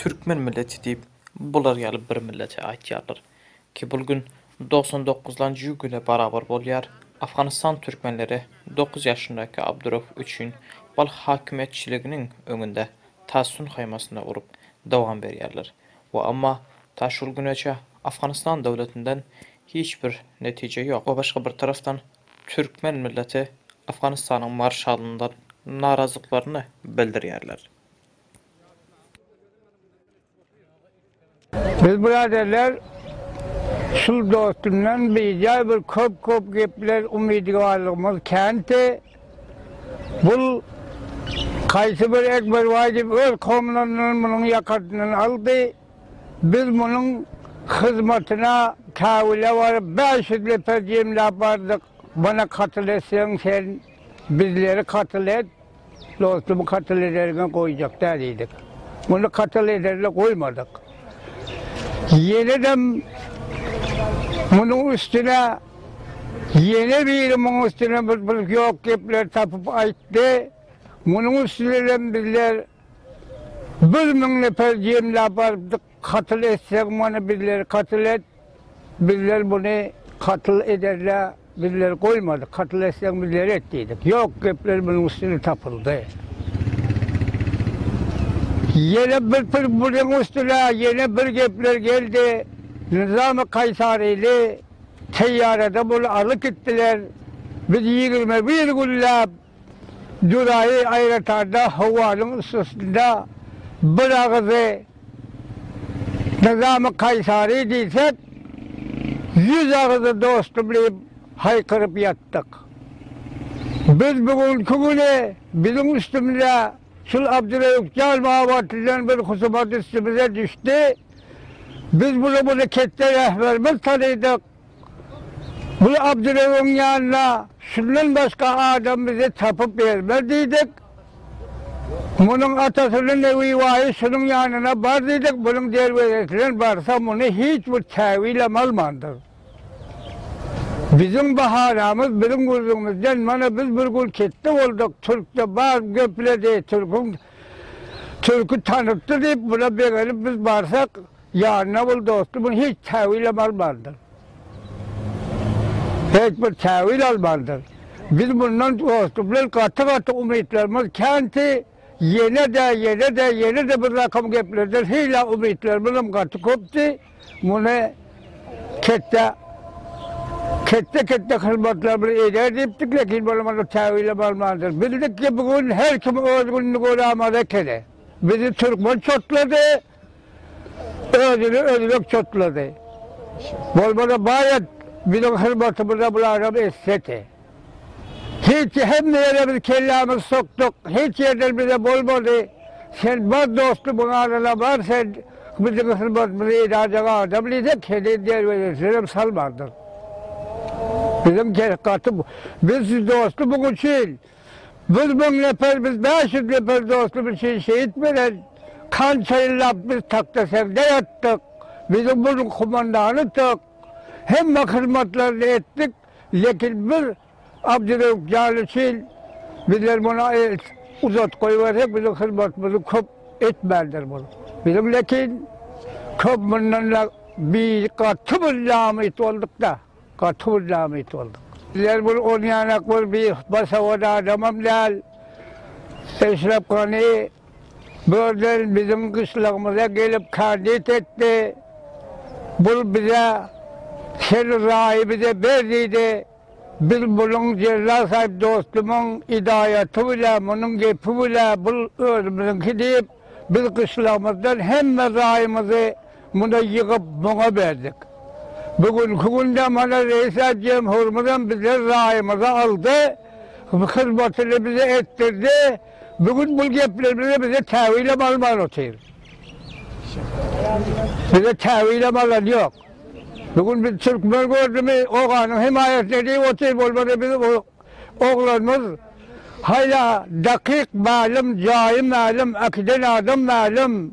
Türkmen milleti diýip bular ýaly bir millete aýtýarlar ki bul gün dogsan dokuz lan jü güne barabar bolýar Afganistan türkmenleri dokuz ýaşyndaky Abdurof üçin bal hakimiýetçiliginiň öňünde tasun haýmasyna urup dowam berýärler we amma ta şul güneçe Afganistan döwletinden hiç bir netije ýok we başga bir tarafdan türkmen milleti Afganistanyň marşalyndan narazyklarny bildirýärler. Biz biraderler şul dostumdan bijaý bir köp-köp gepler umydygallygymyz känti. Bul kaýsy bir Ekberbaý diýip öz komlaryndan munuň ýakasyndan aldy. Biz munuň hyzmatyna käwüle baryp bäş ýüz lepär jemläp bardyk. Mana katyl etseň sen bizleri katyl et dostum katyl ederiňe goýjak däl diýdik. Muny katyl ederle goýmadyk. Ýenedem munuň üstüne ýene biri munuň üstüne bir bir ýok gepleri tapyp aýtdy. Munuň üstüne hem bizler bir müň neper jemläp barypdyk. Katyl etseň muny bizleri katyl et, bizler muny katyl ederle bizleri goýmadyk, katyl etseň bizleri et diýdik. Ýok gepler munuň üstüne tapyldy. Ýene bir pir munuň üstüne ýene bir gepler geldi, Nyzamy Kaýsaryny teýýarada muny alyp gitdiler, biz ýigrimi bir günläp Julaý aýratanda howanyň üstesinde bir agyzy Nyzamy Kaýsary diýsek, ýüz agyzy dostum diýip haýkyryp ýatdyk. Biz bu günki güni biziň üstümize şul Abdyreýup jan babatyndan bir husumat üstümize düşdi. Biz bula muny ketde rähberimiz tanydyk. Biz Abdyrewiň ýanyna şundan başga adam bize tapyp bermez diýdik. Munuň atasynyň Newibaýy şunuň ýanyna bar diýdik, munuň derwezesinden barsa muny hiç bir käbilam almandyr. Biziň bahanamyz biziň gürrüňimizden mana biz bir gün ketde bolduk, türkde bar gepledi, türküň türki tanypdy diýip buna begenip biz barsak, Ýanyna bul dosty muny hiç täwilem almandyr. Hiç bir täwil almandyr. Biz mundan dosty bilen gaty-gaty umytlarymyz känti, ýene-de, ýene-de, ýene-de bir rakam geplerden hila umytlarymyzam gaty köpdi. Muny ketde, ketde-ketde hyzmatlarymyzy eder diýipdik, lekin olam onda täwilem almandyr. Bildik ki, bu gün her kim öz gününi görä maza ekeni. Bizi türkmen çotlady. Özüni özbek çotlady. Bolmasa baýat biziň hyzmatymyza bularam etsedi. Hiç hemme ýere biz kellämizi sokduk, hiç ýerden bize bolmady. Sen bar dostum ýanyna bar sen biziň hyzmatymyzy edajek adam diýsek heniz derwezesinem salmandyr. Biziň gaty biz dostum üçin Biz müň neper, biz bäş ýüz neper dostum üçin şehit beren, kança ýyllap biz takta segde ýatdyk, biziň munuň humandanytdyk, hemme hyzmatlaryny etdik, lekin bir Abdyrewüp jan üçin bizler muna el uzat goýbersek biziň hyzmatymyzy köp etmändir bul. Biziň lekin köp mundan-da bi gaty bir namyt boldukda. Gaty bir nabit bolduk. Bizler bir on ýanak bir basawat adamam däl. Eşrep Gani birden biziň gyşlagymyza gelip kandit etdi. Bul bize Sen raýy bize ber diýdi. Biz munuň Jella Saýyp dostumyň idaýaty bilen, munuň gepi bilen bul özümiziňki diýip, biz gyşlagymyzdan hemme raýymyzy Muny ýygyp muňa berdik. Bu günki günde mana Reýisat Jemhurymyzam bize raýymyzy aldy, hyzmatyny bize etdirdi. Bu gün bu geplerimizi bize täwilem alman otyr. Bize täwilem alan ýok. Bu gün biz türkmen gördümi, oganyň hemaýatyna diýip otyr, bolmasa biz bu oglanymyz haýla dakyk mälim, jaýy mälim, äkiden adam mälim.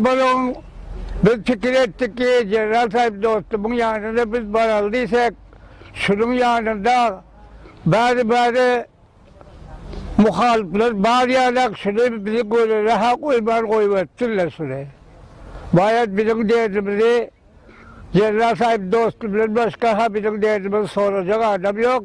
Balagyň Biz pikir etdik ki, Jeneral Saýyp dostumyň ýanyna biz baraly diýsek, şunuň ýanynda bäri-bäri muhalyplar bar ýaly-ak, şuny bizi görere-ha goýman goýberipdirler şuny. Baýat biziň derdimizi Jeneral Saýyp dosty bilen başga-ha biziň derdimizi sorajak adam ýok.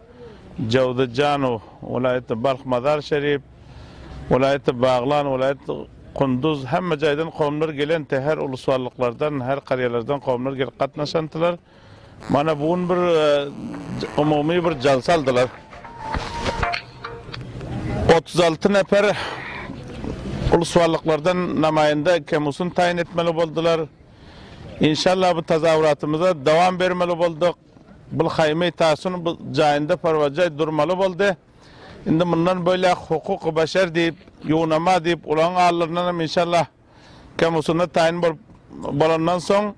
Jowzejanow, welaýatda Balh Mazar Şerif, welaýatda Baglan, welaýatda Kunduz, hemme jaýdan kowumlar gelenti, her ulusballyklardan, her karýalardan kowumlar gelip gatnaşantylar. Mana bu gün bir umumy bir jalsa aldylar. Otuz alty neper ulusballyklardan namaýanda Kemusun taýyn etmeli boldylar. Inşallah bu tazawuratymyza dowam bermeli bolduk. Blhaýmy Tasun bu jaýynda porwajaý durmaly boldy. Indi mundan boýlak hukuky başar diýip, ýuwnama diýip ulagyň alnlaryndan hem inşallah Kemusuna taýyn bolup bolandan soň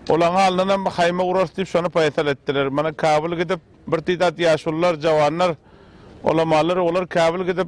ulagyň alnyndan hem haýma urarys diýip şony paýsal etdiler. Mana Kabyl gidip bir tiz at ýaşulylar, jawanlar, ulamalary olar Kabyl gidip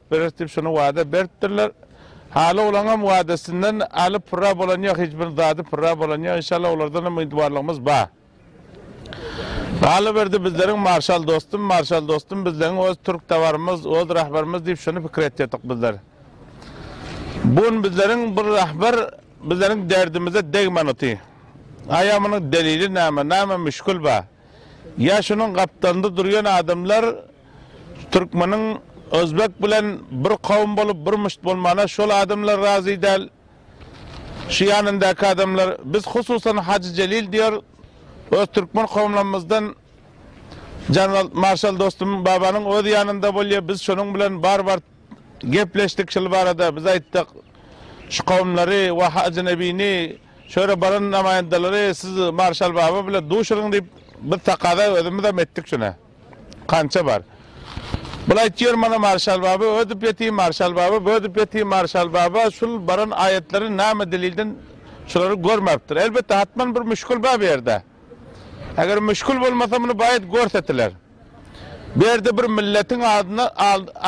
Beres diýip şony wada beripdirler. Haly olaňam wadasyndan alyp pyrra bolan ýok, hiç bir zady pyrra bolan ýok. Inşallah olardan umydwarlygymyz bar. Galyberdi bizleriň marşal dostum, marşal dostum bizleň öz türk tabarymyz, öz rahbarymyz diýip şony pikir etýärdik bizler. Bu gün bizleriň bir rahbar bizleriň derdimize degmän oty. Aýa munuň delili näme, näme müşkül bar? Ýa şunuň gapdalynda durýan adamlar Türkmeniň Özbek bilen bir kowum bolup bir müşt bolmana şol adamlar razy däl. Şu ýanyndaky adamlar, biz hususan Hajy Jelil diýer, öz türkmen kowumlarymyzdan Janwalt marşal dostum babanyň öz ýanynda bolýar, biz şonuň bilen bar bar gepleşdik şul barada, biz aýtdyk, şu kowumlary we Hajy Nebini şöýle baran namaýandalary siz marşal baba bilen duşuryň diýip biz takaza özümizem etdik şuna. Kança bar? Bul aýtýar mana Marşal baba ödüp ýeti Marşal baba bödüp ýeti Marşal baba şul baran aýatlary name delilden şulary görmapdir elbetde hatman bir müşkül bar bu ýerde eger müşkül bolmasa muny baýat görsetiler bu ýerde bir milletiň adyna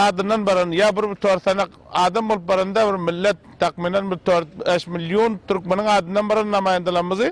adyndan baran ýa bir tor sanak adam bolup baranda bir millet takmynan bir tor bäş million türkmeniň adyndan baran namaýandalarymyzy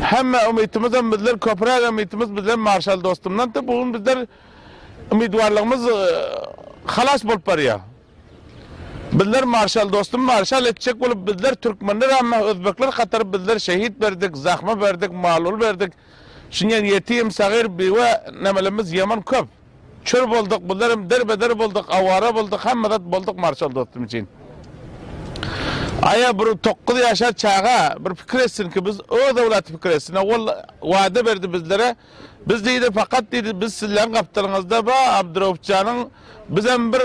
Hemme umytymyzam bizler köpüräk umytymyz bizler marşal dostumdandy. Bu gün bizler umytwarlygymyz halas bolup barýa. Bizler marşal dostum marşal etjek bolup bizler türkmenler ämmä özbekler hatary bizler şehit berdik, zahma berdik, mal-ul berdik. Şunyň ýetim, sagyr, biwe nemelemmiz ýaman köp. Kör bolduk bundan hem derbeder bolduk awara bolduk hemme zat bolduk marşal dostum üçin. Aýa bir tokuz ýaşar çaga bir pikir etsin ki biz öz owlaty pikir etsin owal wada berdi bizlere biz diýdi fakat diýdi biz sizleň gapdalyňyzda ba Abduraupjanyň bizem bir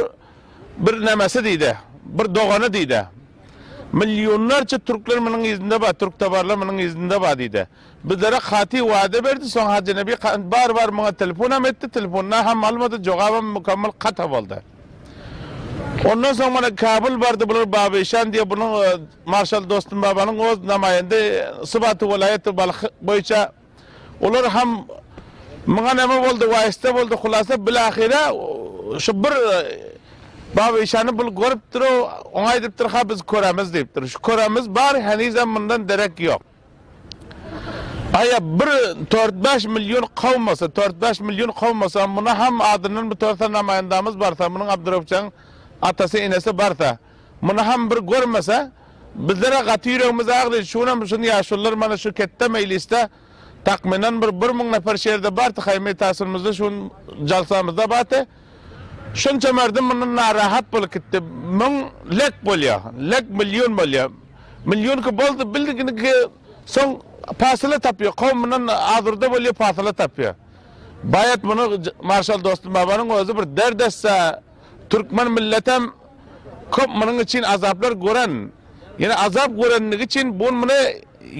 bir nämesi diýdi bir dogany diýdi. Milyonlarça türkler munuň yzynda ba türktabarlar munuň yzynda ba diýdi. Bizlere katy wada berdi, soň Hajy Nebi Kant bar bar muňa telefonam etdi, telefonda ham almady, jogabam mukammal kata boldy. Ondan soň mana Kabul bardy bular Baba Işan diýe bunuň Marşal Dostum Babanyň oz namaýende sybaty welaýaty Balh boýunça olar ham muňa name boldy waýysta boldy hulasa bilahyra şu bir Baba Işany bul görüpdir-ow oňa aýdypdyr ha biz köremiz diýipdir şu köremiz bar henizem mundan derek ýok. Aýa bir tört-bäş million kowmasa, tört-bäş million kowmasa, muny ham adyndan bitorsa namaýandamyz barsa, munyň Abdyrewjaň atasy, enesi barsa, muny ham bir görmese, bizler-ä gaty ýüregimiz agry, şu günäm şun ýaşulylar mana şu ketde meýlisde takmynan bir bir müň neper şu ýerde bardy, haýymy ýtasynymyzda şu gün jalsamyzda bardy. Şunça merdim mundan narahat bolup gitdi. Müň lek bolýa, lek million bolýa. Millionki boldy bildiginiki soň pasyla tapýar kowmyndan azurda bolýar pasyla tapýar baýat muny marşal dostum babanyň özi bir dert etse türkmen milletem köp munyň üçin azaplar gören ýene azap görendigi üçin bu gün muny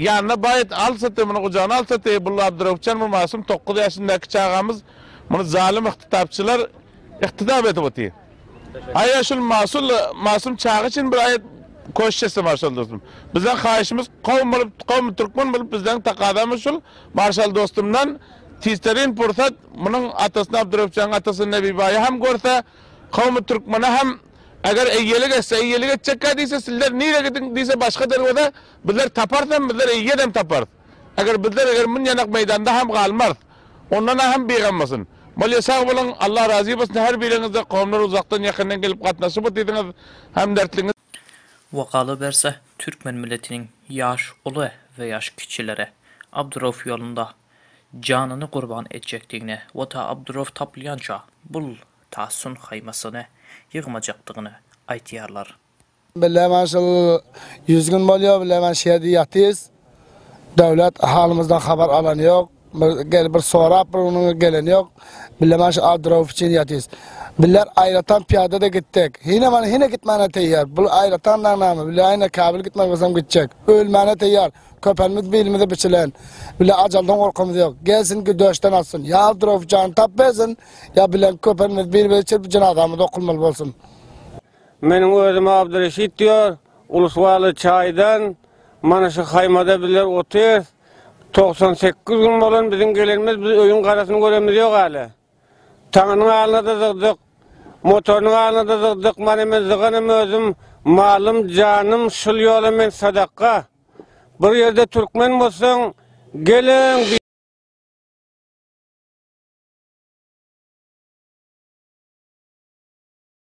ýanyna baýat alsaty muny gujagyna alsaty bul abduröwüpjan bu masum togkuz ýaşyndaki çagamyz muny zalym yhtytapçylar Ykdydap edip otyr. Aýa şul Masum Masum çaga üçin bir aýat koşt etse Marşal dostum. Bizden haýyşymyz kowum bolup kowum türkmen bolup bizden takazamyz şul Marşal dostumdan tizterin pursat munuň atasyny Abdurepjanyň atasyny Nebibaýy hem görse kowum türkmene hem eger eýelik etse eýelik etjekkä diýse sizler nire gidiň diýse başga derweze bizler taparys hem bizler eýedem taparys. Eger bizler eger munyanak meydanda hem galmarys ondanam hem bigam bolsun. Bolya sag boluň Allah razy bolsun her biriňizde komlar uzakdan yakyndan gelip gatnaşyp otysiňiz hemdertliňiz. We galaberse türkmen milletiniň ýaş uly we ýaş kiçileri Abdurauf ýolunda janyny gurban etjekdigini we ta Abdurauf tapylýança bul ta sun haýmasyny ýygmajakdygyny aýtýarlar. Bile men şul ýüz gün bolýar, bile men şu ýerde ýatyrys. Döwlet halymyzdan habar alan ýok. Bir gelip bir sorap bir onuň gelen ýok. Bile men şu adyrow üçin ýatyrys. Biller aýratyn pyýada-da gitdik. Hine men hine gitmäne teýýar. Bul aýratyn daň näme? Bile hine käbir gitmek bolsam gitjek. Ölmäne teýýar. Köpelimiz bilimize biçilen. Bile ajaldan gorkymyz ýok. Gelsin güdöşden atsyn. Ýa adyrow jany tap bersin, ýa bilen köpelimiz bir-biri çirip jenazamyz okulmaly bolsun. Meniň özüm Abdyreşit diýýär. Ulus-Waly çaýdan mana şu haýmada bizler otyrys. Togsan sekiz gün bolan biziň gelenimiz, biz öýüň garasyny görenimiz ýok hälä. Taňynyň alyna-da zygdyk, motorynyň alyna-da zygdyk, mana men zyganym özüm, malym, janym şul ýola men sadakga. Bir ýerde türkmen bolsaň, geleň!